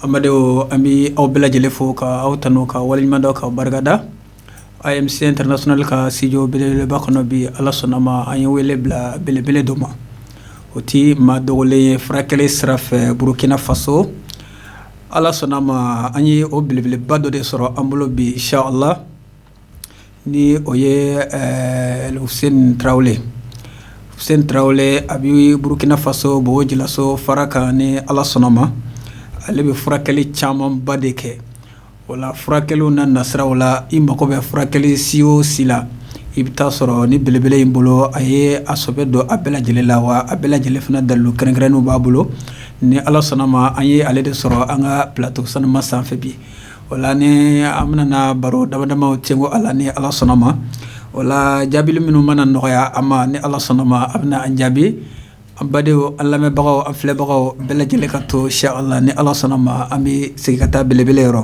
an bɛ aw bɛɛ lajɛlen fo ka aw tanu k'aw waleɲumandɔn k'aw barikada AMC international ka studio belebeleba kɔnɔ bi ala sɔnna ma an ye wele bila belebele dɔ ma o tɛ maa dogolen ye furakɛli sira fɛ burukina faso ala sɔnna ma an ye o belebeleba dɔ de sɔrɔ an bolo bi inshallah Ni o ye fusen tarawele fusen tarawele a bɛ burukina faso bɔbɔ julaso farakan ni ala sɔnna ma ale bɛ furakɛli caman ba de kɛ wala furakɛliw na nasiraw la i mago bɛ furakɛli si o si la i bɛ t'a sɔrɔ nin belebele in bolo a ye a sɔbɛ dɔn a bɛɛ lajɛlen la wa a bɛɛ lajɛlen fana dalilu kɛrɛnkɛrɛnnenw b'a bolo ni ala sɔnna ma an ye ale de sɔrɔ an ka plateau sanuma sanfɛ bi Wala ni an bɛna baro damadamaw cɛ ko a la ni ala sɔnna ma wala jaabili minnu mana nɔgɔya a ma ni ala sɔnna ma a bɛna an jaabi an badenw an lamɛnbagaw an filɛbagaw bɛɛ lajɛlen ka to inshallah ni ala sɔnna ma an bɛ segin ka taa belebele yɔrɔ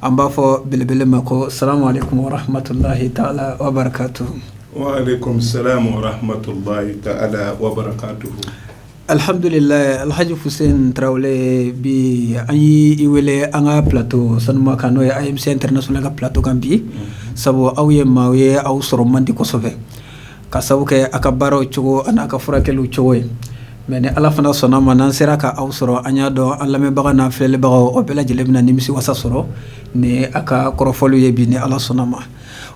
an b'a fɔ belebele ma ko salamu alaikum wa rahmatullahi ta'ala wa barakatuhu wa alaikum salam wa rahmatullahi ta'ala wa barakatuhu Alihamdulila alhaji fusen tarawele bi an y'i wele an ka plateau sanuma kan n'o ye AMC international ka plateau kan bi sabu aw ye maaw ye aw sɔrɔ man di kosɛbɛ ka sabu kɛ a ka baaraw cogo ani a ka furakɛliw cogo ye mais ni ala fana sɔnna ma n'an sera k' aw sɔrɔ an y'a dɔn an lamɛnbaga n'an filɛlibagaw o bɛɛ lajɛlen bɛna nimisiwasa sɔrɔ ni a ka kɔrɔfɔliw ye bi ni ala sɔnna ma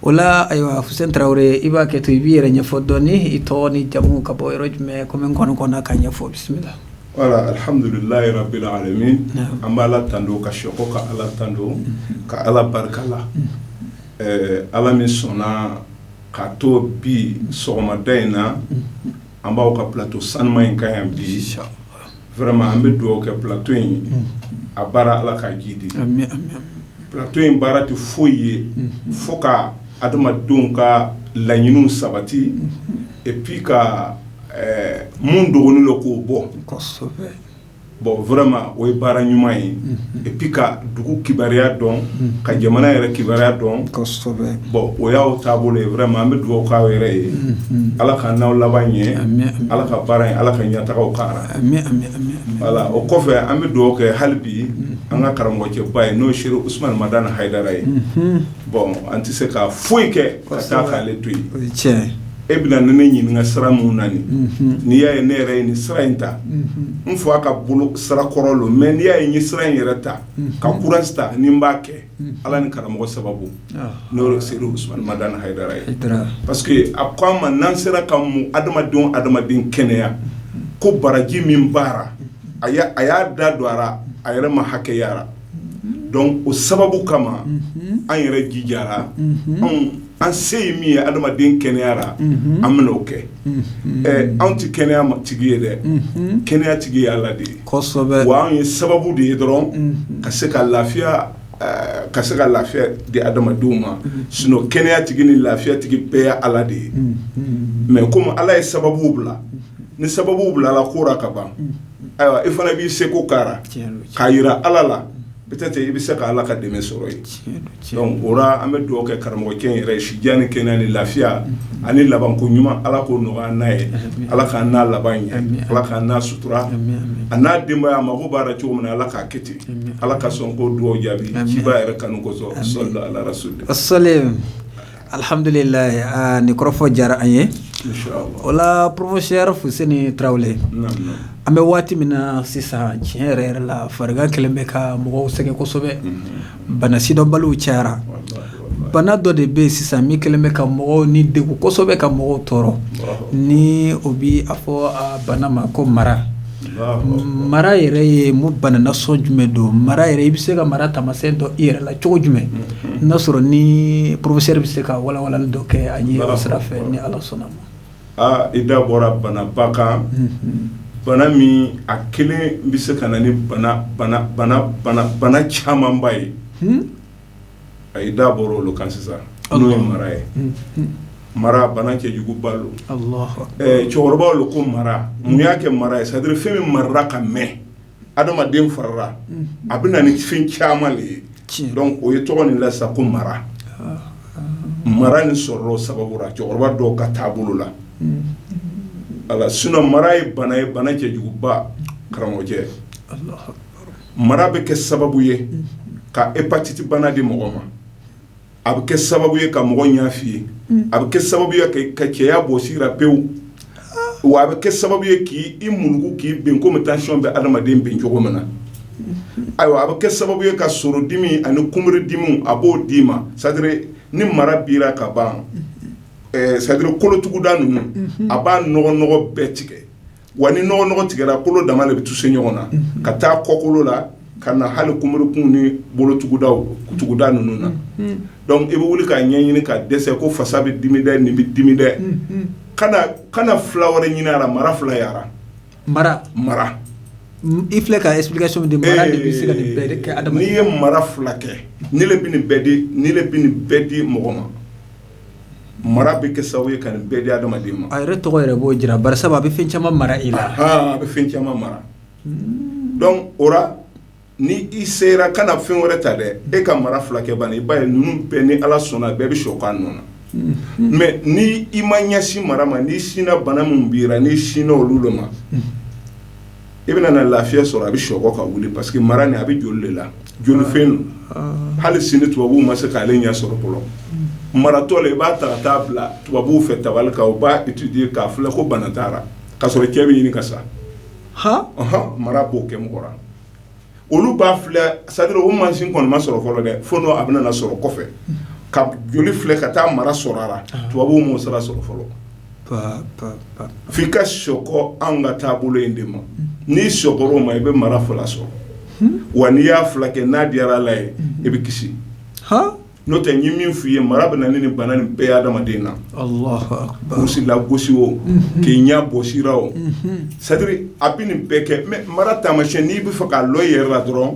wala ayiwa fusen tarawele i b'a kɛ to i b'i yɛrɛ ɲɛfɔ dɔɔnin i tɔgɔ n'i jamu ka bɔ yɔrɔ jumɛn kɔmi n kɔn kɔnna k'a ɲɛfɔ bisimila wala alihamdulilahi rabil alamin an b'ala tando ka sekɔ ka ala tando ka ala barika la ala min sɔnna k'a to bi sɔgɔmada in na an b'aw ka plateau sanuma in kan yan bi vraiment an bɛ dugawu kɛ plateau in a baara ala k'a jiidi plateau in baara tɛ foyi ye fo ka adamadenw ka laɲiniw sabati et puis ka min dogonin lo k'o bɔ bɔn vraiment o ye baara ɲuman ye et puis ka dugu kibaruya dɔn ka jamana yɛrɛ kibaruya dɔn bɔn o y'aw taabolo ye vraiment an bɛ dugawu k'aw yɛrɛ ye ala k'an n'aw laban ɲɛ ala ka baara in ala ka ɲɛtagaw k'a ra wala o kɔfɛ an bɛ dugawu kɛ hali bi an ka karamɔgɔcɛba ye n'o ye serifu usumani madani hayidara ye bɔn an tɛ se ka foyi kɛ ka taa k'ale to yen e bɛna ne ne ɲininka sira mun na n'i y'a ye ne yɛrɛ ye nin sira in ta n fɔ a ka bolo sira kɔrɔ lo mais n'i y'a ye n ye sira in yɛrɛ ta ka courage ta ni n b'a kɛ ala ni karamɔgɔ sababu n'o ye Seyid Usumani Madani Hayidara ye parce que a ko an ma n'an sera ka mun adamaden adamaden kɛnɛya ko baraji min b'a ra a y'a da don a ra a yɛrɛ ma hakɛya ra donc o sababu kama an yɛrɛ jijara anw an se ye min ye adamaden kɛnɛya ra an bɛna o kɛ anw tɛ kɛnɛya ma tigi ye dɛ kɛnɛya tigi ye ala de ye wa anw ye sababu de ye dɔrɔn ka se ka lafiya di adamadenw ma sinon kɛnɛya tigi ni lafiya tigi bɛɛ ye ala de ye mais comme ala ye sababu bila ni sababu bilala ko ra ka ban ayiwa i fana b'i seko k'a ra k'a yira ala la peut-être i bɛ se ka ala ka dɛmɛ sɔrɔ yen donc o ra an bɛ dugawu kɛ karamɔgɔkɛ in yɛrɛ si jan ni kɛnɛya ni lafiya ani laban ko ɲuman ala k'o nɔgɔya an n'a ye ala k'an n'a laban ɲa ala k'an n'a sutura a n'a denbaya a mago b'a ra cogo min na ala k'a kɛ ten ala ka sɔn k'o dugawu jaabi ciba yɛrɛ kanu kosɔn sallu ala rasul Alihamdulila nin kɔrɔfɔ diyara an ye o la professeur Fuseni Tarawele an bɛ waati min na sisan tiɲɛ yɛrɛ yɛrɛ la farigan kɛlen bɛ ka mɔgɔw sɛgɛn kosɛbɛ bana sidɔnbaliw cayara bana dɔ de bɛ yen sisan min kɛlen bɛ ka mɔgɔw ni degun kosɛbɛ ka mɔgɔw tɔɔrɔ ni o bɛ a fɔ a bana ma ko mara mara yɛrɛ ye mun bana nasɔn jumɛn don mara yɛrɛ i bɛ se ka mara taamasiyɛn dɔn i yɛrɛ la cogo jumɛn n'a sɔrɔ ni professeur bɛ se ka walawalali dɔ kɛ an ye o sira fɛ ni ala sɔnna ma aa i da bɔra banaba kan bana min a kelen bɛ se ka na ni bana camanba ye i da bɔra olu kan sisan n'o ye mara ye mara bana cɛjuguba lo cɛkɔrɔbaw ko mara mun y'a kɛ mara ye c'est-à-dire fɛn min marara ka mɛn adamaden farala a bɛ na ni fɛn caman de ye donc o ye tɔgɔ nin la sa ko mara mara nin sɔrɔla o sababu la cɛkɔrɔba dɔw ka taabolo la a sinon mara ye bana ye bana cɛjuguba karamɔgɔcɛ mara bɛ kɛ sababu ye ka hépatite bana di mɔgɔ ma a bɛ kɛ sababu ye ka mɔgɔ ɲa fiyen a bɛ kɛ sababu ye ka cɛya bɔ sira pewu wa a bɛ kɛ sababu ye k'i murugu k'i ben comme tension bɛ adamaden ben cogo min na ayiwa a bɛ kɛ sababu ye ka soro dimi ani kunbiri dimiw a b'o d'i ma c'est-à-dire ni mara b'i ra ka ban c'est-à-dire kolotuguda ninnu a b'a nɔgɔnɔgɔ bɛɛ tigɛ Wa ni nɔgɔ tigɛra kolo dama de bɛ toucher ɲɔgɔn na ka taa kɔkolo la ka na hali kunbirikun ni bolotuguda ninnu na donc i bɛ wuli k'a ɲɛ ɲini ka dɛsɛ ko fasa bɛ dimi dɛ nin bɛ dimi dɛ kana fila wɛrɛ ɲini a ra mara fila yaara mara mara i filɛ ka explication di mara de bɛ se ka nin bɛɛ kɛ n'i ye mara fila kɛ nin le bɛ nin bɛɛ di mɔgɔ ma mara bɛ kɛ sababu ye ka nin bɛɛ di hadamaden ma, a yɛrɛ tɔgɔ yɛrɛ b'o jira bari sabu a bɛ fɛn caman mara i la, anhan, a bɛ fɛn caman mara donc o la ni i sera kana fɛn wɛrɛ ta dɛ e ka mara fila kɛ bani i b'a ye ninnu bɛɛ ni Ala sɔnna bɛɛ bɛ sɔkɔ a nɔ na, unhun, mais ni i ma ɲɛsin mara ma n'i sinna bana min b'i la n'i sinna olu de ma i bɛna na lafiya sɔrɔ a bɛ sɔkɔ ka wuli parce que mara nin a bɛ joli de la jolifɛn don hali sini tubabuw ma se k'ale ɲɛ sɔrɔ fɔlɔ maratɔ la i b'a ta ka taa a bila tubabuw fɛ tabali kan u b'a étudier k'a filɛ ko bana t'a ra k'a sɔrɔ cɛ bɛ ɲini ka sa hɔn mara b'o kɛ mɔgɔ olu b'a filɛ c'est-à-dire o mansin kɔni ma sɔrɔ fɔlɔ dɛ fo n'o a bɛna na sɔrɔ kɔfɛ ka joli filɛ ka taa mara sɔrɔ a la tubabuw m'o sira sɔrɔ fɔlɔ f'i ka sɔkɔ an ka taabolo in de ma n'i sɔkɔra o ma i bɛ mara fila sɔrɔ wa n'i y'a fila kɛ n'a diyara Ala ye i bɛ kisi n'o tɛ n ye min f'i ye mara bɛ na ni nin bana nin bɛɛ ye adamaden na kurusi lagosi o k'i ɲɛ bɔsi i ra o c'est-à-dire a bɛ nin bɛɛ kɛ mais mara taamasiyɛn n'i bɛ fɛ k'a lɔn i yɛrɛ la dɔrɔn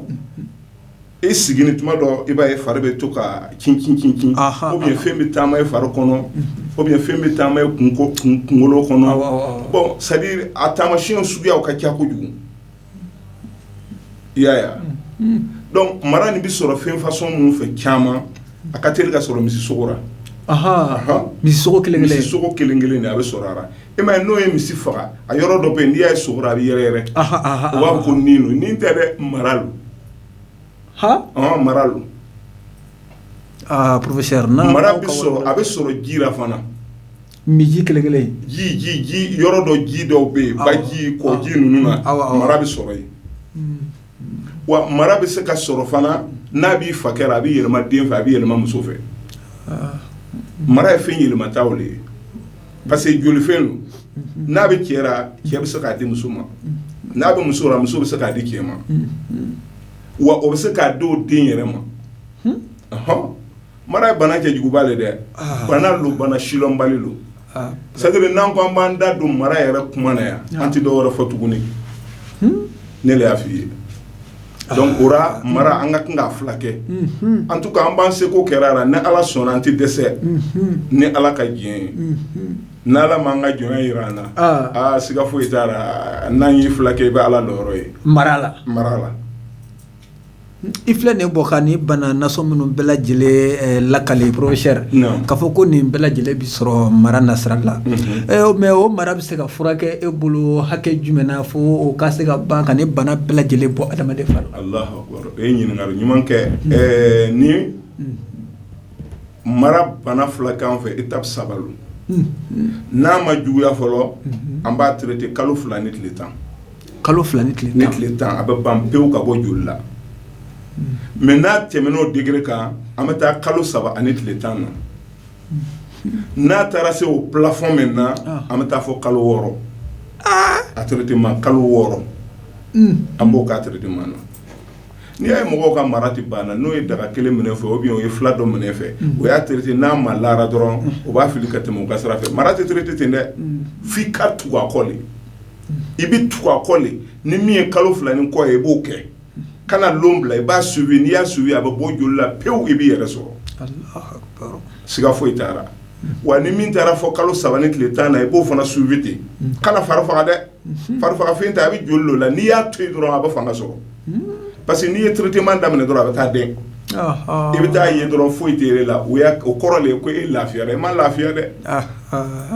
i siginin tuma dɔ i b'a ye fari bɛ to ka cincincin ou bien fɛn bɛ taama i fari kɔnɔ ou bien fɛn bɛ taama i kun kunkolo kɔnɔ bon c'est-à-dire a taamasiyɛn suguyaw ka ca kojugu i y'a ye wa, unhun, donc mara nin bɛ sɔrɔ fɛn façon minnu fɛ caman a ka teli ka sɔrɔ misi sogo la, anhan, misi sogo kelen kelen, misi sogo kelen kelen de a bɛ sɔrɔ a la, i m'a ye n'o ye misi faga a yɔrɔ dɔ bɛ yen n'i y'a ye sogo la a bɛ yɛrɛyɛrɛ, anhan anhan, u b'a fɔ ko ni don, ni tɛ dɛ mara don, han, ɔn mara don, aa professeur mara bɛ sɔrɔ a bɛ sɔrɔ ji la fana Mais ji kelen kelen ji yɔrɔ dɔ ji dɔw bɛ yen baji kɔji ninnu na mara bɛ sɔrɔ yen wa mara bɛ se ka sɔrɔ fana n'a b'i fakɛ ra a bɛ yɛlɛma den fɛ a bɛ yɛlɛma muso fɛ mara ye fɛn yɛlɛmata de ye parce que jolifɛn don n'a bɛ cɛ ra cɛ bɛ se k'a di muso ma n'a bɛ muso ra muso bɛ se k'a di cɛ ma wa o bɛ se k'a di o den yɛrɛ ma mara ye bana cɛjuguba de dɛ bana don bana silɔnbali don c'est-à-dire n'an ko an b'an da don mara yɛrɛ kuma na yan an tɛ dɔ wɛrɛ fɔ tuguni ne y'a f fɔ i ye donc o la mara an ka kan k'a fila kɛ en tout cas an b'an seko kɛ a la ni ala sɔnna an tɛ dɛsɛ ni ala ka diɲɛ ye n' ala ma an ka jɔnya jira an na aa siga foyi t'a la n'an y'i fila kɛ i bɛ ala ye mara la mara la i filɛ nin bɔ ka ni bana nasɔn minnu bɛɛ lajɛlen lakale professeur k'a fɔ ko nin bɛɛ lajɛlen bɛ sɔrɔ mara nasira la mais o mara bɛ se ka furakɛ e bolo hakɛ jumɛn na fo o ka se ka ban ka ni bana bɛɛ lajɛlen bɔ adamaden fari la e ye ɲininkali ɲuman kɛ ni mara bana fila k'an fɛ étape saba lo n'a ma juguya fɔlɔ an b'a traité kalo fila ni tile tan Kalo fila ni ni tile tan a bɛ ban pewu ka bɔ joli la mais n'a tɛmɛna o degré kan an bɛ taa kalo saba ani tile tan na n'a taara se o plafond maintenant an bɛ taa fɔ kalo wɔɔrɔ a traitement kalo wɔɔrɔ an b'o k'a traitement na n'i y'a ye mɔgɔw ka mara tɛ banna n'o ye daga kelen minɛ fɛ ou bien o ye fila dɔ minɛ fɛ o y'a traité n'a malara dɔrɔn o b'a fili ka tɛmɛ o ka sira fɛ mara tɛ traité ten dɛ f'i ka tugu a kɔ i bɛ tugu a kɔ le ni min ye kalo fila ni kɔ ye i b'o kɛ kana don bila i b'a suivi n'i y'a suivi a bɛ bɔ joli la pewu i b'i yɛrɛ sɔrɔ siga foyi t'a la wa ni min taara fɔ kalo saba ni tile tan na i b'o fana suivi ten kana fari faga dɛ farifaga fɛn tɛ a bɛ joli la n'i y'a to yen dɔrɔn a bɛ fanga sɔrɔ parce que n'i ye traitement daminɛ dɔrɔn a bɛ taa den i bɛ taa ye dɔrɔn foyi t'i la o o kɔrɔ de ye ko e lafiyara i ma lafiya dɛ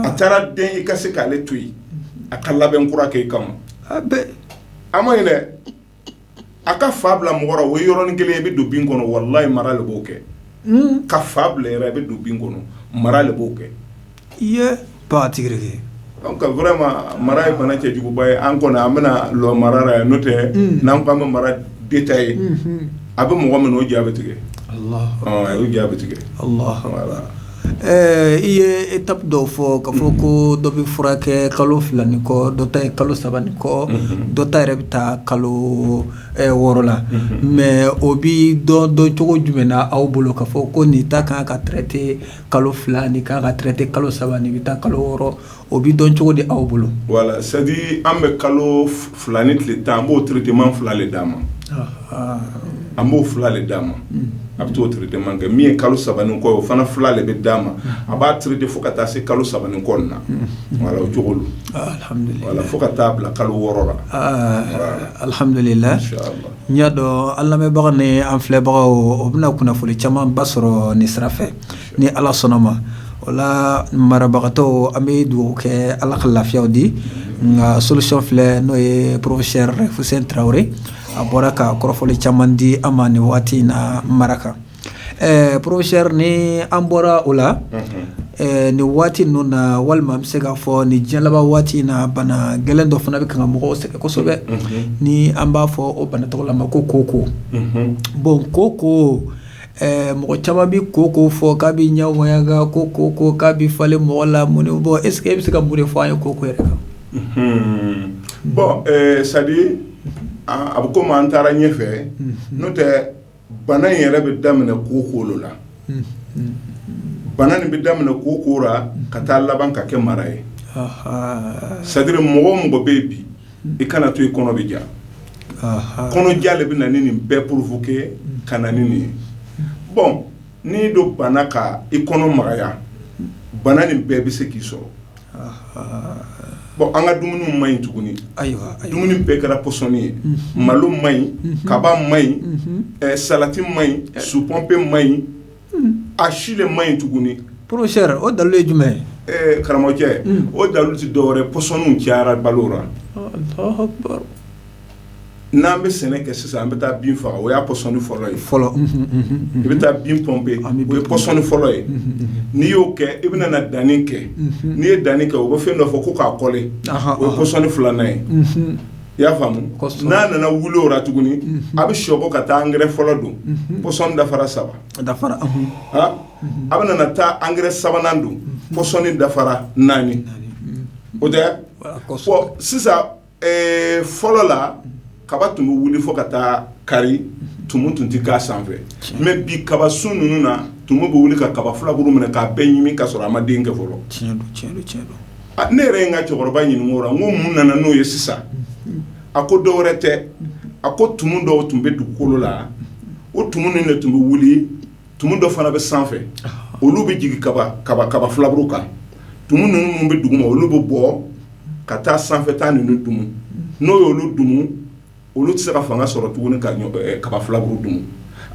a taara den i ka se k'ale to yen a ka labɛn kura kɛ i kama a man ɲi dɛ a ka fa bila mɔgɔ ra o yɔrɔnin kelen i bɛ don bin kɔnɔ walayi mara le b'o kɛ ka fa bila i bɛ don bin kɔnɔ mara le b'o kɛ i ye ba tigirike vraiment mara ye bana cɛjuguba ye an kɔni an bɛna lɔ mara ra yan n'o tɛ n'an ko an bɛ mara détaillé a bɛ mɔgɔ min o ja bɛ tigɛ a ja bɛ tigɛ Ɛɛ i ye étape dɔw fɔ k'a fɔ ko dɔ bɛ furakɛ kalo fila ni kɔ dɔ ta ye kalo saba ni kɔ dɔ ta yɛrɛ bɛ taa kalo wɔɔrɔ la mais o bɛ dɔn dɔncogo jumɛn na aw bolo k'a fɔ ko nin ta kan ka traité kalo fila nin kan ka traité kalo saba nin bɛ taa kalo wɔɔrɔ o bɛ dɔn cogo di aw bolo voilà c'est-à-dire an bɛ kalo fila ni tile tan an b'o traitement fila de d'a ma an b'o fila de d'a ma a bɛ t'o traitement kɛ min ye kalo saba kɔ o fana fila de bɛ d'a ma a b'a traiter fo ka taa se kalo saba kɔ na voilà o cogo voilà fo ka taa bila kalo wɔɔrɔ la alihamdulila n y'a dɔn an lamɛnbaga ni an filɛbagaw o bɛna kunnafoni caman ba sɔrɔ nin sira Ni ala sɔnna ma o la marabagatɔw an bɛ dugawu kɛ ala ka lafiyaw di nka solution filɛ n'o ye professeur Fuseni Tarawele a bɔra ka kɔrɔfɔli caman di an ma nin waati in na mara kan ɛɛ professeur ni an bɔra o la nin waati ninnu na walima an bɛ se k'a fɔ nin jiɲɛ laban waati in na bana gɛlɛn dɔ fana bɛ kan ka mɔgɔw sɛgɛn kosɛbɛ ni an b'a fɔ o bana tɔgɔ la ma ko kooko bon kooko Ɛɛ mɔgɔ caman bɛ kooko fɔ k'a bɛ ɲɛ waɲaga ko kooko k'a bɛ falen mɔgɔ la mun bon est-ce que e bɛ se ka mun de fɔ an ye kooko yɛrɛ kan bon c'est-à-dire a bɛ komi an taara ɲɛ fɛ n'o tɛ bana in yɛrɛ bɛ daminɛ kooko le la bana nin bɛ daminɛ kooko ra ka taa laban ka kɛ mara ye c'est-à-dire mɔgɔ o mɔgɔ bɛ yen bi i kana to i kɔnɔ bɛ ja kɔnɔja de bɛ na ni nin bɛɛ provoquer ka na ni nin ye bon n'i don banna ka i kɔnɔ magaya bana nin bɛɛ bɛ se k'i sɔrɔ bon an ka dumuniw man ɲi tuguni ayiwa dumuni bɛɛ kɛra pɔsɔni ye malo man ɲi kaba man ɲi salati man ɲi supɔnpe man ɲi a si de man ɲi tuguni professeur o dalu ye jumɛn ye karamɔgɔcɛ o dalu tɛ dɔ wɛrɛ pɔsɔniw cayara balo la Allahu akbar n'an bɛ sɛnɛ kɛ sisan an bɛ taa bin faga o y'a pɔsɔni fɔlɔ ye fɔlɔ i bɛ taa bin pɔnpe o ye pɔsɔni fɔlɔ ye n'i y'o kɛ i bɛna na danni kɛ n'i ye danni kɛ o bɛ fɛn dɔ fɔ ko k'a kɔle o ye pɔsɔni filanan ye i y'a faamu n'a nana wuli o la tuguni a bɛ sɔrɔ ka taa angɛrɛ fɔlɔ don pɔsɔni dafara saba dafara a bɛna na taa angɛrɛ sabanan don pɔsɔni dafara naani o tɛ sisan fɔlɔ la kaba tun bɛ wuli fo ka taa kari tumu tun tɛ k'a sanfɛ mais bi kaba sun ninnu na tumu bɛ wuli ka kaba filaburu minɛ k'a bɛɛ ɲimi ka sɔrɔ a ma den kɛ fɔlɔ ne yɛrɛ ye n ka cɛkɔrɔba ɲininka o ra n ko mun nana n'o ye sisan a ko dɔ wɛrɛ tɛ a ko tumu dɔw tun bɛ dugukolo la o tumu ninnu de tun bɛ wuli tumu dɔ fana bɛ sanfɛ olu bɛ jigin kaba filaburu kan tumu ninnu bɛ duguma olu bɛ bɔ ka taa sanfɛta ninnu dun n'o ye olu dun olu tɛ se ka fanga sɔrɔ tuguni ka kaba filaburu dun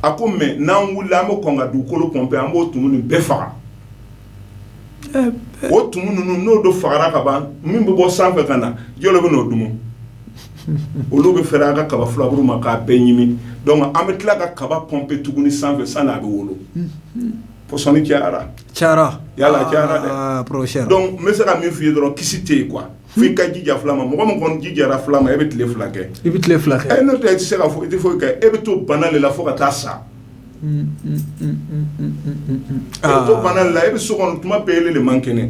a ko mais n'an wulila an bɛ kɔn ka dugukolo pɔnpe an b'o tumu nin bɛɛ faga o tumu ninnu n'o don fagara ka ban min bɛ bɔ sanfɛ ka na jɔn bɛ n'o dun olu bɛ fɛrɛ an ka kaba filaburu ma k'a bɛɛ ɲimi an bɛ tila ka kaba pɔnpe tuguni sanfɛ sani a bɛ wolo pɔsɔni caya cayala n bɛ se ka min fɔ i ye dɔrɔn kisi tɛ yen quoi Fo i ka jija fila ma mɔgɔ min kɔni jijara fila ma e bɛ tile fila kɛ i bɛ tile fila kɛ n'o tɛ i tɛ se ka fɔ i tɛ foyi kɛ e bɛ to bana le la fo ka taa sa e bɛ to bana le la e bɛ so kɔnɔ tuma bɛɛ ele le man kɛnɛ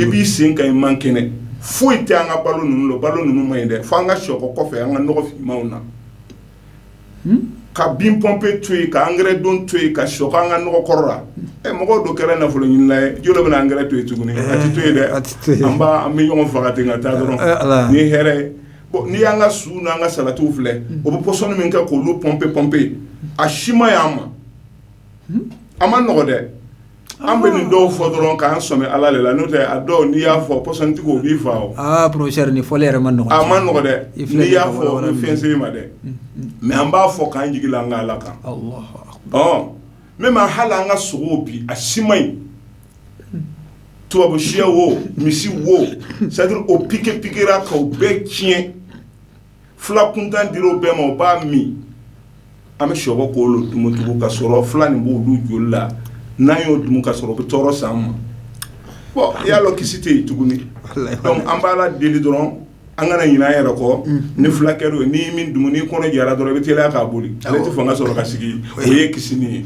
i b'i sen kan i man kɛnɛ foyi tɛ an ka balo ninnu la balo ninnu man ɲi dɛ fo an ka sɔkɔ kɔfɛ an ka nɔgɔ finmanw na ka bin pɔnpe to yen ka angɛrɛ don to yen ka sɔkɔ an ka nɔgɔ kɔrɔ la ɛ mɔgɔ dɔ kɛra nafolo ɲinina ye jɔn le bɛna angɛrɛ to yen tuguni a tɛ to yen dɛ an bɛ ɲɔgɔn faga ten ka taa dɔrɔn ni hɛrɛ ye bon n'i y'an ka su n'an ka salatiw filɛ o bɛ pɔsɔni min kɛ k'olu pɔnpe pɔnpe a si man ɲi an ma a ma nɔgɔ dɛ An bɛ nin dɔw fɔ dɔrɔn k'an sɛmɛ Ala le la n'o tɛ a dɔw n'i y'a fɔ pɔsɔnitigiw u b'i faa o, aa professeur nin fɔli yɛrɛ man nɔgɔn, a man nɔgɔn dɛ, n'i y'a fɔ o bɛ fɛn se i ma dɛ, mais an b'a fɔ k'an jigi da an ka Ala kan, Alahu akbar, ɔ même hali an ka sogow bi a si man ɲi, tubabusiyɛ wo misi wo c'est à dire o piquer piquer ra k'o bɛɛ tiɲɛ fila kuntan dir'o bɛɛ ma o b'a min an bɛ sɔkɔ k'olu dun tugun ka sɔrɔ fila nin b'olu joli la n'an y'o dun ka sɔrɔ o bɛ tɔɔrɔ s'an ma bon i y'a dɔn kisi tɛ yen tuguni donc an b'Ala deli dɔrɔn an kana ɲinɛ an yɛrɛ kɔ ni fila kɛra o ye n'i min dumu n'i kɔnɔ jara dɔrɔn i bɛ teliya k'a boli ale tɛ fanga sɔrɔ ka sigi o ye kisi ye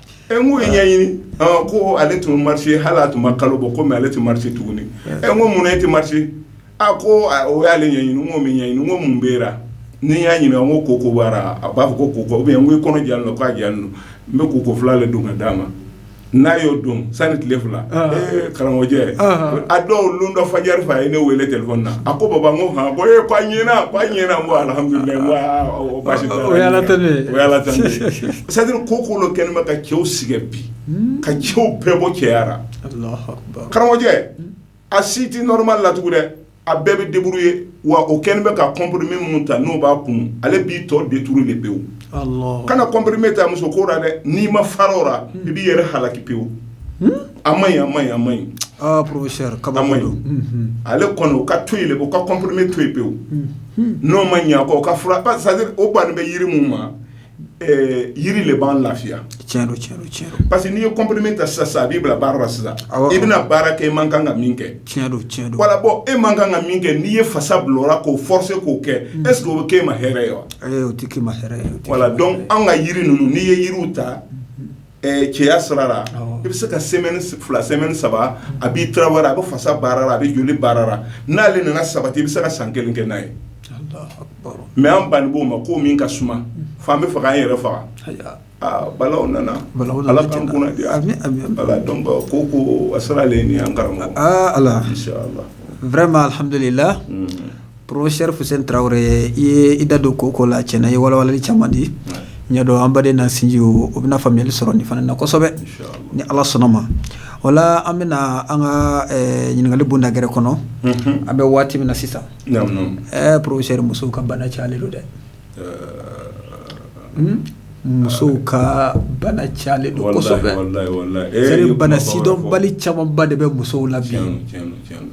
E n ko ye ɲɛɲini ko ale tun bɛ marché hali a tun ma kalo bɔ kɔmi ale tɛ marché tuguni e ko munna e tɛ marché a ko o y'ale ɲɛɲini ko min ɲɛɲini ko mun bɛ n'i y'a ɲininka ko koko a b'a fɔ ko koko bɛ n kɔnɔ jalen don k'a jalen don n bɛ koko fila de don ka d'a ma n'a y'o don sani tile fila karamɔgɔjɛ a dɔw don dɔ fajɛri fɛ a ye ne weele téléphone na a ko baba ko h ko e ko ɲɛna ko ɲɛna ko ala C'est à dire koko lo kɛlen bɛ ka cɛw sɛgɛn bi ka cɛw bɛɛ bɔ cɛya ra karamɔgɔjɛ a si tɛ normal la tugun dɛ a bɛɛ bɛ débrouiller wa o kɛlen bɛ ka comprimé minnu ta n'o b'a kun ale b'i tɔ détruire de pewu kana comprimé ta muso ko la dɛ n'i ma fara o la i b'i yɛrɛ halaki pewu a ma a ma a ma ɲi kama ale kɔni u ka to yen u ka comprimé to yen pewu n'o ma ɲɛ kɔ o banni bɛ yiri min ma yiri le b'an lafiya tiɲɛ don tiɲɛ don tiɲɛ don parce que n'i ye comprimé ta sisan sisan a b'i bila baara la sisan, awɔ, awɔ, i bɛna baara kɛ i man kan ka min kɛ, tiɲɛ don tiɲɛ don, voilà bon e man kan ka min kɛ n'i ye fasa bila o la k'o forcer k'o kɛ est ce que o bɛ k'e ma hɛrɛ ye wa? Ayi o tɛ k'e ma hɛrɛ ye, voilà donc an ka yiri ninnu n'i ye yiriw ta cɛya sira la i bɛ se ka semaine fila semaine saba a b'i travailler a bɛ fasa baara la a bɛ joli baara la n'ale nana sabati i bɛ se ka san kelen kɛ n'a ye mais an banni b'o ma ko min ka suma f'an bɛ fɛ k'an yɛrɛ faga bala nana ala tan ko ko a sera ale ni an karamɔgɔ ala vraiment alhamdulillah Professeur Fuseni Tarawele i ye i da don ko ko la tiɲɛ na i ye walawalali caman di n y'a dɔn an baden n'an sinjiw bɛna faamuyali sɔrɔ nin fana na kosɛbɛ ni ala sɔnna ma voilà an bɛna an ka ɲininkali bonda gɛrɛ kɔnɔ an bɛ waati min na sisan professeur musow ka bana calen don dɛ Musow ka bana calen don bana sidɔnbali camanba de bɛ musow la bi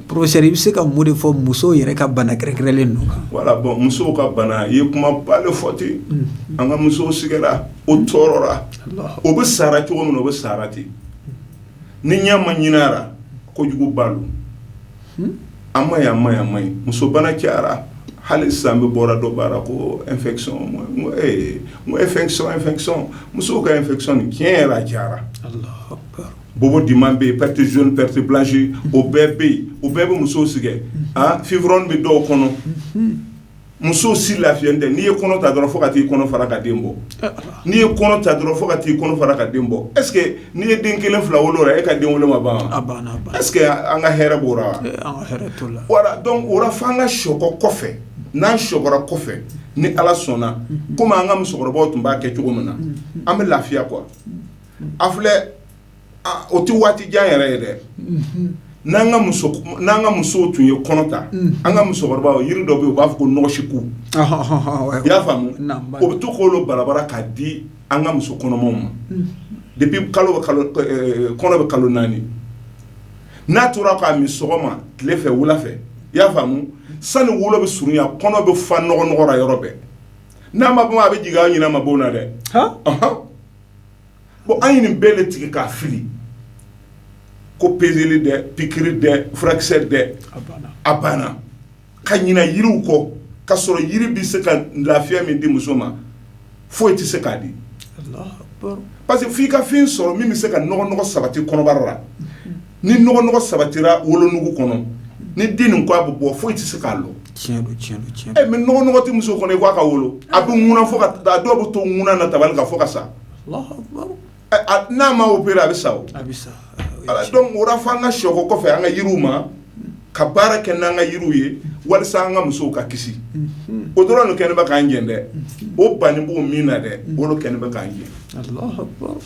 professeur i bɛ se ka mun de fɔ musow yɛrɛ ka bana kɛrɛnkɛrɛnlen ninnu kan voilà bon musow ka bana i ye kuma ba de fɔ ten an ka musow sigɛra o tɔɔrɔra o bɛ sara cogo min na o bɛ sara ten ni ɲɛ ma ɲini a ra kojuguba lo an ma an ma an ma ɲi musobana cɛyara hali san bɛ bɔra dɔ bara ko e fɛn musow ka e fɛ tiɲɛ yɛrɛ a cɛyara bo di bɛ yen pte z pte bilasi o bɛɛ bɛ yen o bɛɛ bɛ muso sɛgɛn a fioroin bɛ dɔw kɔnɔ musow si lafiyalen tɛ n'i ye kɔnɔ ta dɔrɔn fo ka t'i kɔnɔ fara ka den bɔ n'i ye kɔnɔ ta dɔrɔn fo ka t'i kɔnɔ fara ka den bɔ est ce que n'i ye den kelen fila wolo la e ka den wolo ma ban est ce que an ka hɛrɛ b'o ra voilà donc o ra fo an ka sɔkɔ kɔfɛ n'an sɔkɔra kɔfɛ ni ala sɔnna kɔmi an ka musokɔrɔbaw tun b'a kɛ cogo min na an bɛ lafiya quoi a filɛ o tɛ waati jan yɛrɛ ye dɛ n'an ka musow tun ye kɔnɔ ta an ka musokɔrɔbaw yiri dɔ bɛ yen u b'a fɔ ko nɔgɔsiku i y'a faamu o bɛ to k'olu barabara k'a di an ka muso kɔnɔmaw ma depuis kɔnɔ bɛ kalo naani n'a tora k'a min sɔgɔma tile fɛ wula fɛ i y'a faamu sani wolo bɛ surunya kɔnɔ bɛ fa nɔgɔnɔgɔ ra yɔrɔ bɛɛ n'a ma bɔ a bɛ jigin an ɲina ma bɔ na dɛ bon an ye nin bɛɛ de tigɛ k'a fili ko peseli dɛ pikiri dɛ furakisɛ dɛ a banna ka ɲina yiriw kɔ ka sɔrɔ yiri bɛ se ka lafiya min di muso ma foyi tɛ se k'a di parce que f'i ka fɛn sɔrɔ min bɛ se ka nɔgɔnɔgɔ sabati kɔnɔbara la ni nɔgɔ sabatira wolonugu kɔnɔ ni den nin ko a bɛ bɔ foyi tɛ se k'a lɔ mais nɔgɔ tɛ muso kɔnɔ i ko a ka wolo a bɛ ŋuna fo ka dɔw bɛ to ŋuna na tabali kan fo ka sa n'a ma opérer a bɛ sa donc o la fo an ka sɔkɔ kɔfɛ an ka yiriw ma ka baara kɛ n'an ka yiriw ye walasa an ka musow ka kisi o dɔrɔn le kɛlen bɛ k'an gɛn dɛ o bannen b'o min na dɛ o le kɛlen bɛ k'an gɛn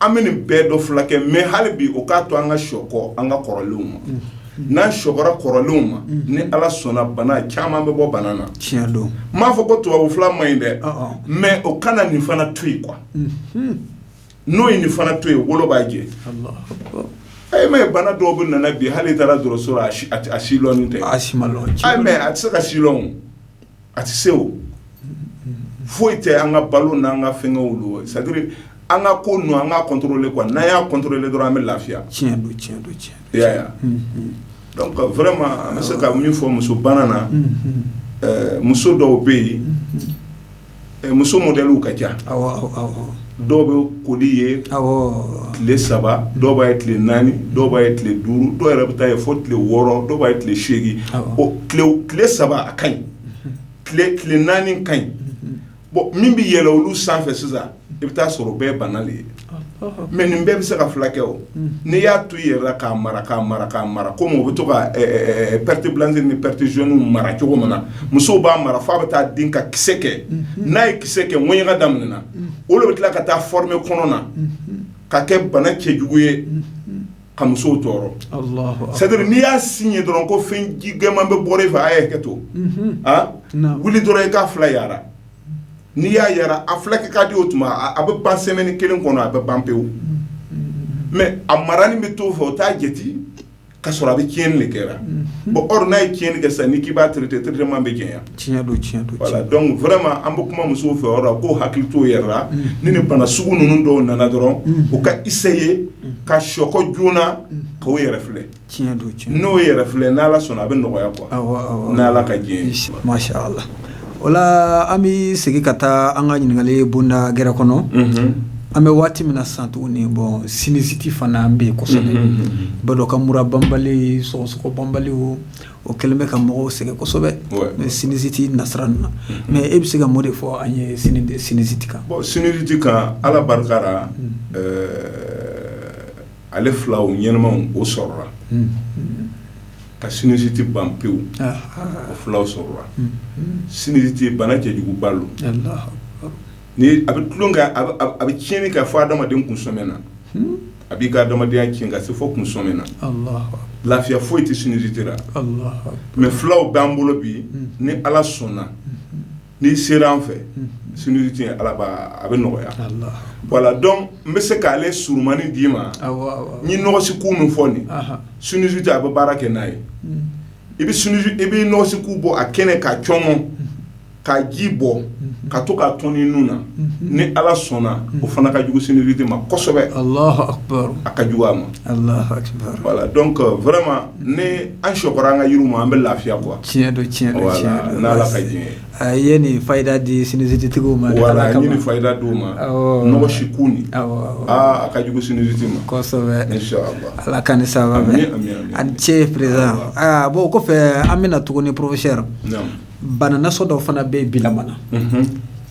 an bɛ nin bɛɛ dɔ filakɛ mais hali bi o k'a to an ka sɔkɔ an ka kɔrɔlenw ma n'an sɔkɔra kɔrɔlenw ma ni ala sɔnna bana caman bɛ bɔ bana na tiɲɛ don n m'a fɔ ko tubabu fila ma ɲi dɛ mais o kana nin fana to yen quoi n'o ye nin fana to yen o le b'a jɛ ayi mais bana dɔw bɛ nana bi hali taara dɔgɔtɔrɔso a si lɔnni tɛ a si ma lɔn mais a tɛ se k'a si a tɛ se o foyi tɛ an ka balo n'an ka fɛnkɛw lo c'est-à-dire an ka ko ninnu an k'a contrôler quoi n'an y'a contrôler dɔrɔn an bɛ lafiya tiɲɛ don tiɲɛ don i y'a ye donc vraiment an bɛ se ka min fɔ muso bana na muso dɔw bɛ yen muso modɛliw ka ca dɔw bɛ koli ye tile saba dɔw b'a ye tile naani dɔw b'a ye tile duuru dɔw yɛrɛ bɛ t'a ye fo tile wɔɔrɔ dɔw b'a ye tile seegin tile saba a ka ɲi tile naani ka ɲi bon min bɛ yɛlɛ olu sanfɛ sisan i bɛ taa sɔrɔ o bɛɛ ye bana de ye mais nin bɛɛ bɛ se ka filakɛ o n'i y'a to i yɛrɛ la k'a mara k'a mara k'a mara komi o bɛ to perte blanche ni perte jaune mara cogo min na musow b'a mara fo a bɛ taa den ka kisɛ kɛ n'a ye kisɛ kɛ ŋɛɲɛ ka damin o le bɛ tila ka taa former kɔnɔna na ka kɛ bana cɛjugu ye ka musow tɔɔrɔ c'est-à-dire n'i y'a signé dɔrɔn ko fɛn ji gɛman bɛ bɔra i fɛ a ye hakɛ to wuli dɔrɔn i k'a fila yara n'i y'a yara a filakɛ ka di o tuma a bɛ ban semaine kelen kɔnɔ a bɛ ban pewu mais a marani bɛ t'o fɛ o t'a jate ka sɔrɔ a bɛ tiɲɛni de kɛra bon or n'a ye tiɲɛni kɛ sisan ni k'i b'a traiter traitement bɛ gɛlɛya tiɲɛ don tiɲɛ don voilà donc vraiment an bɛ kuma musow fɛ o yɔrɔ la k'o hakili t'o yɛrɛ la ni nin bana sugu ninnu dɔw nana dɔrɔn u ka essayer ka sɔkɔ joona k'o yɛrɛ filɛ tiɲɛ don n'o yɛrɛ filɛ n'ala sɔnna a bɛ nɔgɔya quoi n'ala ka diɲɛ la o la an bɛ segin ka taa an ka ɲininkali bonda gɛrɛ kɔnɔ an bɛ waati min na sisan tuguni bon sinusite fana an bɛ yen kosɛbɛ b'a dɔn ka mura banbali sɔgɔsɔgɔ banbali o kɛlen bɛ ka mɔgɔw sɛgɛn kosɛbɛ sinusite nasira ninnu na mais e bɛ se ka mun de fɔ an ye sinusite kan bon sinusite kan ala barika la ale filaw ɲɛnamaw o sɔrɔla Ka sinusite ban pewu o fulaw sɔrɔra sinusite bana cɛjuguba lo ni a bɛ tulon kɛ a bɛ tiɲɛni kɛ fɔ adamaden kunsɔmɛ na a b'i ka adamadenya tiɲɛ ka se fɔ kunsɔmɛ na lafiya foyi tɛ sinusite ra mais fulaw b'an bolo bi ni ala sɔnna n'i sera an fɛ sinusite ye ala a bɛ nɔgɔya voilà donc n bɛ se k'ale surunmani d'i ma n ye nɔgɔsiku min fɔ nin sinusite a bɛ baara kɛ n'a ye i i bɛ nɔgɔsiku bɔ a kɛnɛ k'a cɔngɔ k'a ji bɔ ka to k'a tɔni nun na ni ala sɔnna o fana ka jugu sinusite ma kosɛbɛ a ka jugu a ma voilà donc vraiment ni an sɔkɔra an ka yiriw ma an bɛ lafiya quoi tiɲɛ don tiɲɛ don tiɲɛ don voilà n'Ala ka jɛn ye a i ye nin fayida di sinusite tigiw ma voilà n ye nin fayida d'u ma awɔɔ nɔgɔsiku nin awɔ awɔ aa a ka jugu sinusite ma kosɛbɛ inchallah Ala k'an ni sababa bɛn amin amin amin a ni ce président ayiwa aa bon o kɔfɛ an bɛna tuguni professeur naamu bana nasɔn dɔ fana bɛ bilama na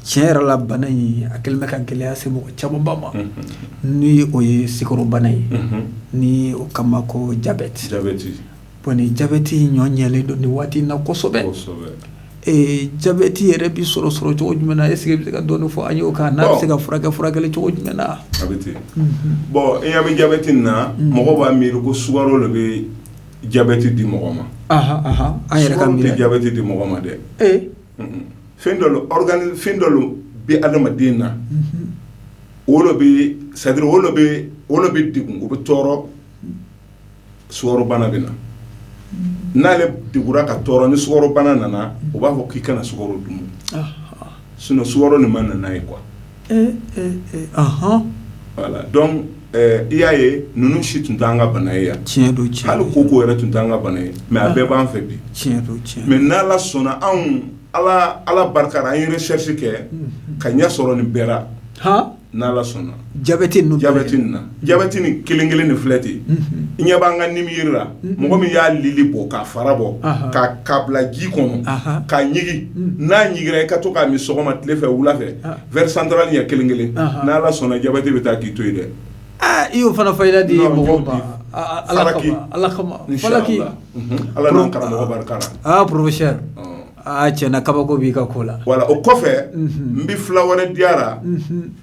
tiɲɛ yɛrɛ la bana in a kɛlen bɛ ka gɛlɛya se mɔgɔ camanba ma n'o ye sukarobana ye ni o k'a ma ko jabɛti bon ni jabɛti ɲɔ ɲɛlen don nin waati in na kosɛbɛ ee jabɛti yɛrɛ bɛ sɔrɔ sɔrɔ cogo jumɛn na est-ce que i bɛ se ka dɔɔni fɔ an y'o kan n'a bɛ se ka furakɛ furakɛli cogo jumɛn na bon i ɲɛ bɛ jabɛti in na mɔgɔ b'a miiri ko sukaro de bɛ jabɛti di mɔgɔ ma an yɛrɛ k'a tɛ jabɛti di mɔgɔ ma dɛ fɛn dɔ lo bɛ adamaden na o lo bɛ c'est-à-dire o lo bɛ degun o bɛ tɔɔrɔ sukarobana bɛ na n'ale degura ka tɔɔrɔ ni sukarobana nana u b'a fɔ k'i kana sukaro dun sinon sukaro nin ma na n'a ye quoi donc i y'a ye ninnu si tun tɛ an ka bana ye yan tiɲɛ don cɛ hali koko yɛrɛ tun tɛ an ka bana ye mais a bɛɛ b'an fɛ bi tiɲɛ don cɛ mais n'ala sɔnna anw ala barika ra an ye recherche kɛ ka ɲɛ sɔrɔ nin bɛɛ ra n'ala sɔnna jabɛti na jabɛti ni kelen kelen ni filɛ ten i ɲɛ b'an ka nimiyiri la mɔgɔ min y'a lili bɔ k'a fara bɔ k'a bila ji kɔnɔ k'a ɲigin n'a ɲiginra i ka to k'a min sɔgɔma tile fɛ wula fɛ verre central ɲɛ kelen kelen n' ala sɔnna jabɛti bɛ taa k'i to yen dɛ i y'o fana fayida di mɔgɔw ma ala kama falaki ala n'an karamɔgɔ barika ra professeur aaa tiɲɛ na kabako b'i ka ko la voilà o kɔfɛ n bɛ fula wɛrɛ di a ra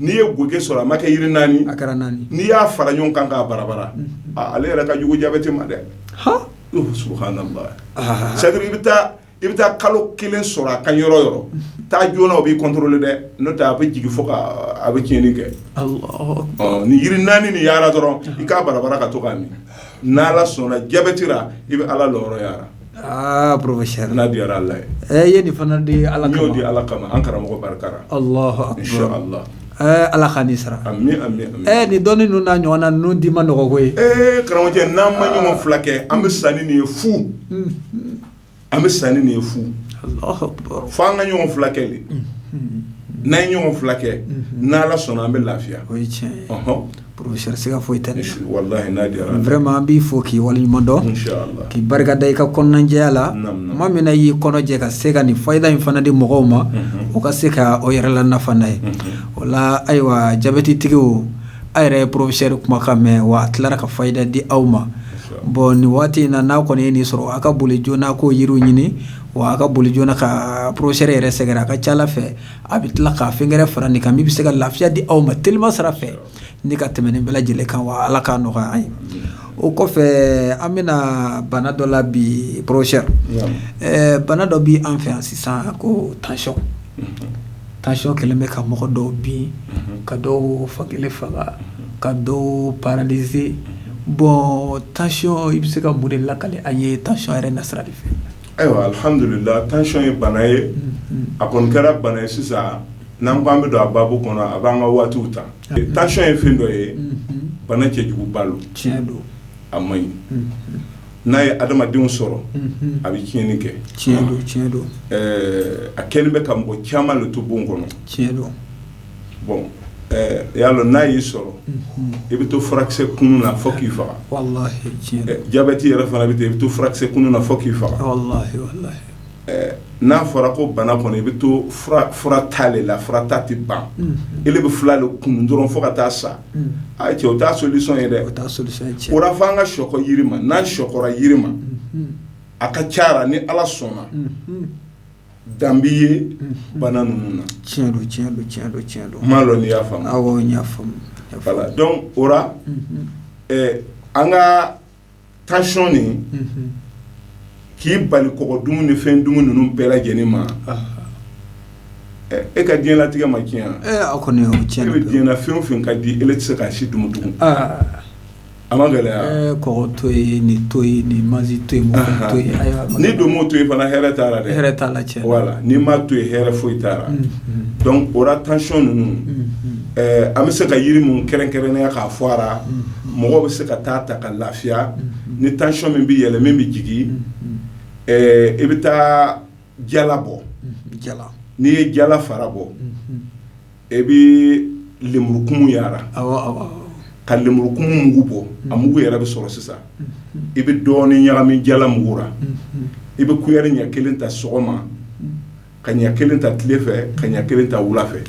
n'i ye gese sɔrɔ a ma kɛ yiri naani a kɛra naani n'i y'a fara ɲɔgɔn kan k'a barabara ale yɛrɛ ka jugu jabɛti ma dɛ subhanallah c'est-à-dire i bɛ taa kalo kelen sɔrɔ a ka yɔrɔ yɔrɔ taa joona o b'i contrôler dɛ n'o tɛ a bɛ jigin fo a bɛ tiɲɛni kɛ ni yiri naani ni yaara dɔrɔn i k'a barabara ka to k'a min n' ala sɔnna jabɛti ra i bɛ ala la Aa professeur n'a diyara Ala ye, ɛ i ye nin fana di Ala kama, n y'o di Ala kama an karamɔgɔ barikala, Alahu akbar, in cha Allah ɛɛ Ala k'a ni sara, ami ami, ɛɛ nin dɔnni ninnu n'a ɲɔgɔnna ninnu di man nɔgɔ koyi, ee karamɔgɔcɛ n'an ma ɲɔgɔn filakɛ an bɛ sa ni nin ye fu, unhun, an bɛ sa ni nin ye fu, Alahu akbar, fo an ka ɲɔgɔn filakɛ de, unhun, n'an ye ɲɔgɔn filakɛ n'Ala sɔnna an bɛ lafiya, o ye tiɲɛ ye, ɔnhɔn Professeur siga foyi tɛ nin na. Walahi n'a diyara Ala ye. Vraiment an b'i fo k'i waleɲuman dɔn. N sha Allah. K'i barika da i ka kɔnɔnajɛya la. Naamu naamu. Tuma min na i y'i kɔnɔ jɛ ka se ka nin fayida in fana di mɔgɔw ma. Unhun. O ka se ka o yɛrɛ lanafa n'a ye. Unhun. O la ayiwa jabɛtitigiw a' yɛrɛ ye professeur kumakan mɛn wa a tilara ka fayida di aw ma. Siga t'a la. Bon nin waati in na n'a kɔni ye nin sɔrɔ a ka boli joona a k'o yiriw ɲini wa a ka boli joona ka professeur yɛrɛ sɛgɛrɛ a ka ca Ala fɛ a bɛ tila ka fɛn wɛrɛ fara nin kan min bɛ se ka lafiya di aw ma telima sira fɛ ni ka tɛmɛ nin bɛɛ lajɛlen kan wa ala k'a nɔgɔya an ye o kɔfɛ an bɛna bana dɔ la bi professeur bana dɔ bɛ an fɛ yan sisan ko tension tension kɛlen bɛ ka mɔgɔ dɔw bin ka dɔw fan kelen faga ka dɔw paralyser bon tension i bɛ se ka mun de lakali an ye tension yɛrɛ nasira de fɛ Ayiwa alihamdulila tension ye bana ye a kɔni kɛra bana ye sisan n'an ko an bɛ don a baabu kɔnɔ a b'an ka waatiw ta tension ye fɛn dɔ ye bana cɛjuguba don tiɲɛ don a man ɲi n'a ye adamadenw sɔrɔ a bɛ tiɲɛni kɛ tiɲɛ don tiɲɛ don a kɛlen bɛ ka mɔgɔ caman de to bon kɔnɔ tiɲɛ don bon i y'a dɔn n'a y'i sɔrɔ i bɛ to furakisɛ kunun na fo k'i faga jabɛti yɛrɛ fana bɛ ten i bɛ to furakisɛ kunun na fo k'i faga n'a fɔra ko bana kɔnɔ i bɛ to fura ta de la fura ta tɛ ban e bɛ fila de kunun dɔrɔn fo ka taa sa a cɛ o t'a solution ye dɛ o la fo an ka sɔkɔ yiri ma n'an sɔkɔra yiri ma a ka ca ni ala sɔnna dan bɛ ye bana ninnu na tiɲɛ don tiɲɛ don tiɲɛ don tiɲɛ don n m'a dɔn n'i y'a faamu awɔ n y'a faamu voilà donc o la an ka tension nin k'i bali kɔgɔ dumuni ni fɛn dumuni ninnu bɛɛ lajɛlen ma e ka diɲɛlatigɛ ma tiɲɛ kɔni bɛ diɲɛ na fɛn o fɛn ka di e tɛ se k'a si dumu tugun a ma gɛlɛya kɔgɔ to ye ni to ni ma to to ni don to ye fana hɛrɛ t'a la hɛrɛ t'a la tiɲɛ voilà ni ma to ye hɛrɛ foyi t'a la donc o la tension ninnu an bɛ se ka yiri mun kɛrɛnkɛrɛnya k'a fɔ a la mɔgɔ bɛ se ka taa ta ka lafiya ni tension min bɛ yɛlɛ min bɛ jigin i bɛ taa jala bɔ n'i ye jala fara bɔ I bɛ lenburukumun yara ka lenburukumun mugu bɔ a mugu yɛrɛ bɛ sɔrɔ sisan i bɛ dɔɔnin ɲagami jala mugu la i bɛ kuyɛri ɲɛ kelen ta sɔgɔma ka ɲɛ kelen ta tile fɛ ka ɲɛ kelen ta wula fɛ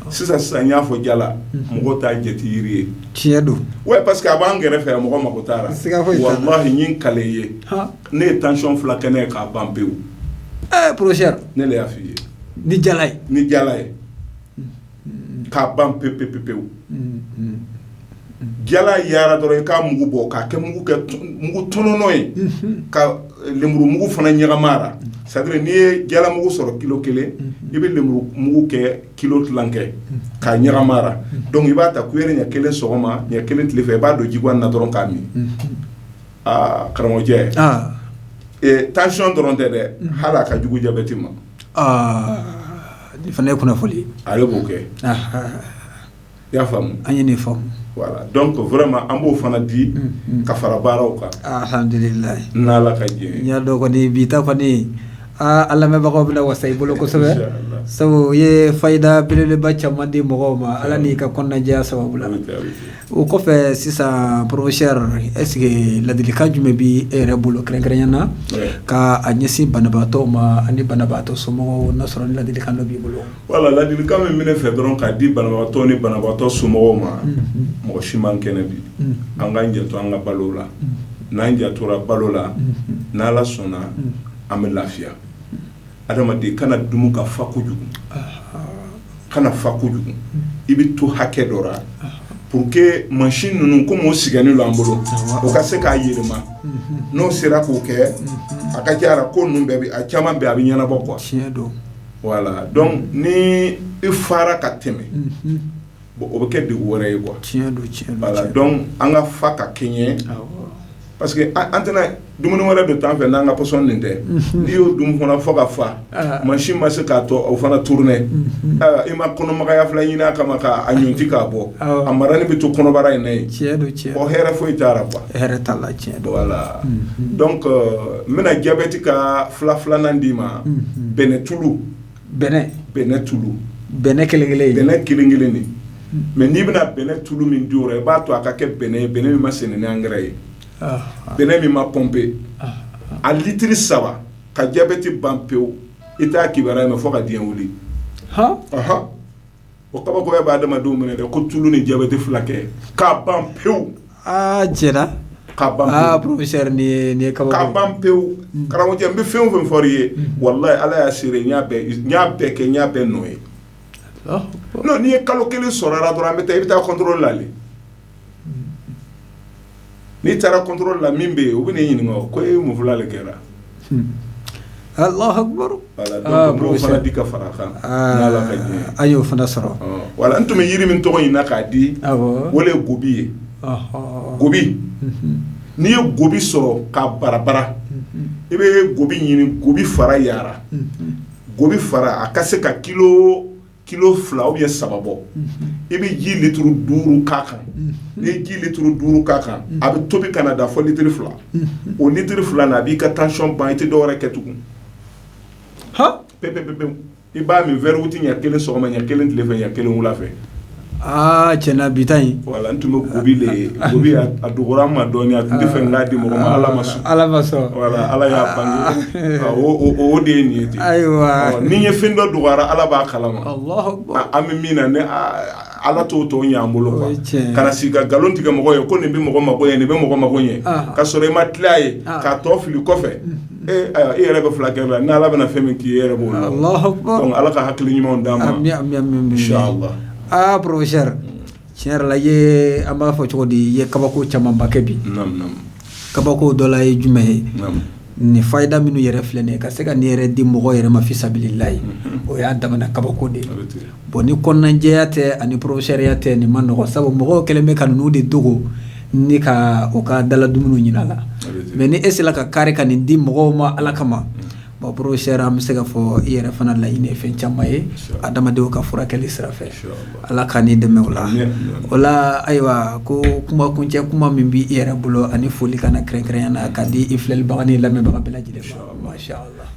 sisan sisan n y'a fɔ jala mɔgɔ t'a jate jiri ye tiɲɛ don ouais parce que a b'an kɛrɛfɛ mɔgɔ mako t'a la n ye n kali ne ye tension fila kɛ ne ye k'a ban pewu professeur ne y'a fɔ i ye ni nin ye k'a ban pe pe pe pewu jala yara dɔrɔn i k'a mugu bɔ k'a kɛ mugu tɔnɔnɔ ye ka lemuru mugu fana ɲagam'a la c'est-à-dire n'i ye jala mugu sɔrɔ kilo kelen i bɛ lemuru mugu kɛ kilo tilan kɛ k'a ɲagam'a la donc i b'a ta kuyɛri ɲɛ kelen sɔgɔma ɲɛ kelen tile fɛ i b'a don jigwan na dɔrɔn k'a min aa karamɔgɔcɛ tension dɔrɔn tɛ dɛ hali a ka jugu jabɛti ma Fana ye kunnafoni ale b'o kɛ i y'a faamu an ye nin faamu voilà donc vraiment an b'o fana di ka fara baaraw kan alhamdulillah n y'a dɔn kɔni bi ta kɔni a lamɛnbagaw bɛna wasa i bolo kosɛbɛ sabu i ye fayida belebeleba caman di mɔgɔw ma ala n'i ka kɔnɔnajɛya sababu O kɔfɛ sisan professeur est-ce que ladilikan jumɛn bɛ e yɛrɛ bolo kɛrɛnkɛrɛnya na k'a ɲɛsin banabaatɔw ma ani banabaatɔ somɔgɔw n'a sɔrɔ ni ladilikan dɔ b'i bolo voilà ladilikan min bɛ n fɛ dɔrɔn k'a di banabaatɔ ni banabaatɔ somɔgɔw ma mɔgɔ si man kɛnɛ bi an k'an janto an ka balo la n'an jantora balo la n'ala sɔnna an bɛ lafiya adamaden kana dum ka fa kojugu kana fa kojugu i bɛ to hakɛ dɔ la pour que machine ninnu comme u sigilen don an bolo u ka se k'a yɛlɛma n'o sera k'o kɛ a ka ca la ko ninnu bɛɛ bɛ a caman bɛɛ a bɛ ɲɛnabɔ quoi voilà donc ni i fara ka tɛmɛ bon o bɛ kɛ degun wɛrɛ ye tiɲɛ don voilà donc an ka fa ka kɛɲɛ parce que an tɛna dumuni wɛrɛ don t'an fɛ n'an ka pɔsɔn nin tɛ n'i y'o dun fana fɔ ka fa machine ma se k'a to o fana tourner i ma kɔnɔmagaya fila ɲini a kama k'a ɲɔnti k'a bɔ a maralen bɛ to kɔnɔbara in na yen tiɲɛ don cɛ o hɛrɛ foyi t'a la quoi hɛrɛ t'a la tiɲɛ don voilà donc n bɛna jabɛti ka fila filanan d'i ma bɛnɛ tulu bɛnɛ bɛnɛ tulu bɛnɛ kelen kelen bɛnɛ kelen kelen de mais n'i bɛna bɛnɛ tulu min di o la i b'a to a ka kɛ bɛnɛ ye bɛnɛ min ma sɛnɛ ni angɛrɛ ye bɛnɛ min ma pompé a litiri saba ka diabète ban pewu i t'a kibaruya mɛn fo ka diɲɛ wuli o kabakoya bɛ adamadenw minɛ dɛ ko tulu ni diabète filakɛ k'a ban pewu, aa tiɲɛna, k'a ban pewu, aa professeur nin ye nin ye kabako ye, k'a ban pewu, karamɔgɔcɛ n bɛ fɛn o fɛn fɔr'i ye walahi Ala y'a seere ye n y'a bɛɛ n y'a bɛɛ kɛ n y'a bɛɛ nɔ ye, Alahu akibaru, non n'i ye kalo kelen sɔrɔ a la dɔrɔn an bɛ taa i bɛ taa contrôle la le n'i taara contrôle la min bɛ yen u bɛ n'i ɲininka ko e mun fila le kɛra n fana di ka fara a kan an y'o fana sɔrɔ voilà n tun bɛ yiri min tɔgɔ ɲini na k'a di o le ye gobi ye gobi n'i ye gobi sɔrɔ k'a barabara i bɛ gobi ɲini gobi fara yara gobi fara a ka se ka kilo fila ou bien saba bɔ i bɛ ji litiri duuru k'a kan n'i ye ji litiri duuru k'a kan a bɛ tobi ka na da fo litiri fila o litiri fila na a b'i ka tension ban i tɛ dɔwɛrɛ kɛ tugun pepepewu i b'a min verre huit ɲɛ kelen sɔgɔma ɲɛ kelen tilefɛ ɲɛ kelen wula fɛ Aa tiɲɛna bi ta in voilà n tun bɛ gobi le gobi a dogora an ma dɔɔnin a tun tɛ fɛ n k'a di mɔgɔ ma ala ma sɔn ala ma sɔn ala y'a o de ye nin ye ten ayiwa ni ye fɛn dɔ dogo a ra ala b'a kalama an bɛ min na ne ala t'o tɔ ɲɛ an bolo quoi kana sigi ka nkalon tigɛ mɔgɔ ye ko nin bɛ mɔgɔ mako ɲɛ nin bɛ mɔgɔ mako ɲɛ ka sɔrɔ i ma tila ye k'a tɔ fili kɔfɛ Ee ayiwa e yɛrɛ bɛ fulakɛ la n' ala bɛna fɛn min k'i ye i yɛrɛ b'o dɔn ala ka hakili ɲuman d'an ma aa professeur tiɲɛ yɛrɛ la i ye an b'a fɔ cogo di i ye kabako camanbakɛ bi kabako dɔ la ye jumɛn ye nin fayida minnu yɛrɛ filɛ nin ye ka se ka nin yɛrɛ di mɔgɔ yɛrɛ ma fisabilillahi o y'a damana kabako de ye bon ni kɔnɔnajɛya tɛ ani professeurya tɛ nin ma nɔgɔ sabu mɔgɔw kɛlen bɛ ka ninnu de dogo ni ka u ka daladumuni ɲini a la mais ni e sera ka kari ka nin di mɔgɔw ma ala kama bon professeur an bɛ se ka fɔ i yɛrɛ fana laɲini ye fɛn caman ye adamadenw ka furakɛli sira fɛ ala ka n'i dɛmɛ o la o la ayiwa ko kuma kuncɛ kuma min b bɛ i yɛrɛ bolo ani foli kana na kɛrɛnkɛrɛn na ka di i filɛlibaga ni lamɛnbaga bɛɛ lajɛlen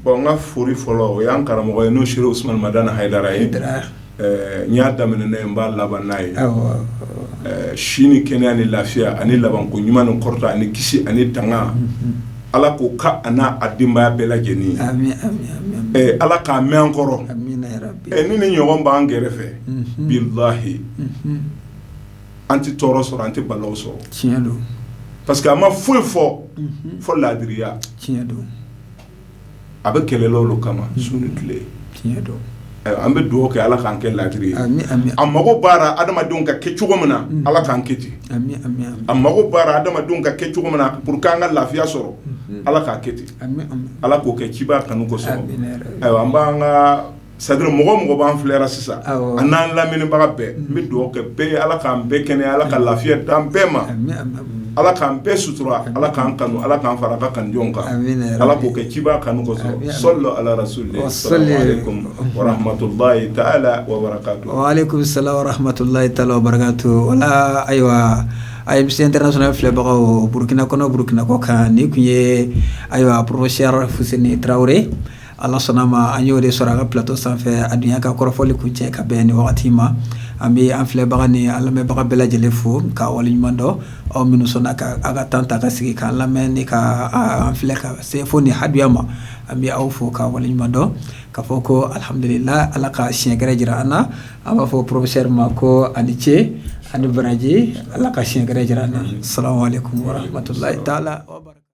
Bon n ka foli fɔlɔ o y'an karamɔgɔ ye n'o Serif Usmane Madani Hayidara ye n y'a daminɛ n'a ye n b'a laban n'a ye si ni kɛnɛya ni lafiya ani labanko ɲuman ni kɔrɔta ani kisi ani tanga ala k'o k'a n'a denbaya bɛɛ lajɛlen ye ala k'a mɛn an kɔrɔ ni nin ɲɔgɔn b'an kɛrɛfɛ bilahi an tɛ tɔɔrɔ sɔrɔ an tɛ balawu sɔrɔ tiɲɛ don parce que a ma foyi fɔ fo laadiriya tiɲɛ don a bɛ kɛlɛlaw kama su ni tile an bɛ dugawu kɛ ala k'an kɛ laadiri ye a mago b'a ra adamadenw ka kɛ cogo min na ala k'an kɛ ten a mago b'a ra adamadenw ka kɛ cogo min na pour que an ka lafiya sɔrɔ ala k'a kɛ ten ala k'o kɛ ciba kanu kosɔn an b'an ka c'est-à-dire mɔgɔ o mɔgɔ b'an filɛ ra sisan a n'an lamɛnnibaga bɛɛ n bɛ dugawu kɛ bɛɛ ye ala k'an bɛɛ kɛnɛya ala ka lafiya d'an bɛɛ ma ala k'an bɛɛ sutura ala k'an kanu ala k'an fara a ka kanujɔnw kan ala k'o kɛ ciba kanu kosɔn sallu ala rasul salamu alaikum wa rahmatullahi ta'ala wa barakatuh wala ayiwa AMC International filɛbagaw burukina kɔnɔ burukina kɔkan nin kun ye ayiwa professeur fuseni tarawele Ala sɔnna ma an y'o de sɔrɔ an ka plateau sanfɛ a dunya ka kɔrɔfɔli kuncɛ ka bɛn nin wagati ma an bɛ an filɛbaga ni an lamɛnbaga bɛɛ lajɛlen fo ka waleɲuman dɔn aw minnu sɔnna ka aw ka temps ta ka sigi k'an lamɛn ni ka an filɛ ka se fo ni haya ma an bɛ aw fo ka waleɲuman dɔn ka fɔ ko alihamdulila ala ka siɲɛ gɛrɛ jira an na an b'a fɔ professeur ma ko a ni ce a ni baraji ala ka siɲɛ gɛrɛ jira an na salamu alaikum wa rahmatullahi ta'ala